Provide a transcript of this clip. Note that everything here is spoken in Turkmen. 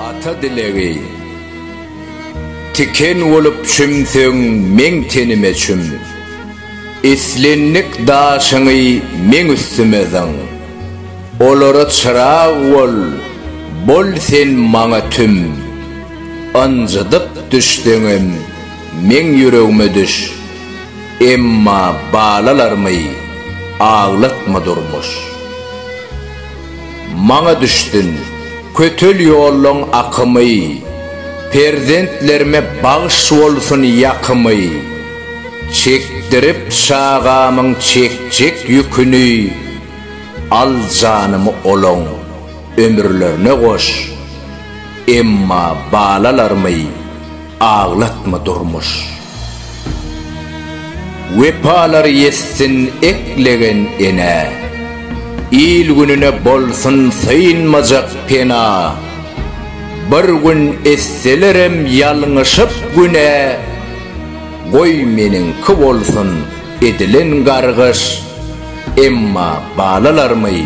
Ata dilegi Tiken bolup çümsüň meň tenime çüm Islendik daşyňy meň üstüme zyň Olara çyrag bol, bol sen maňa tüm Ynjydyp düşseňem meň ýüregime düş. Emma balalarymy aglatma durmuş. Maňa düşsün kötel ýollaň akymy, Perzentlerime bagş bolsun ýakymy. Çekdirip çagamyň çekjek ýüküni, Al janymy olaň ömürlerine goş. Emma balalarymy. Aglatma durmuş. Wepalar ýetsin eklegen enä. Il-gününe bolsun synmajak pena. Bir gün etselerem ýalňyşyp günä. Goý meniňki bolsun edilen gargyş. Emma balalarmy?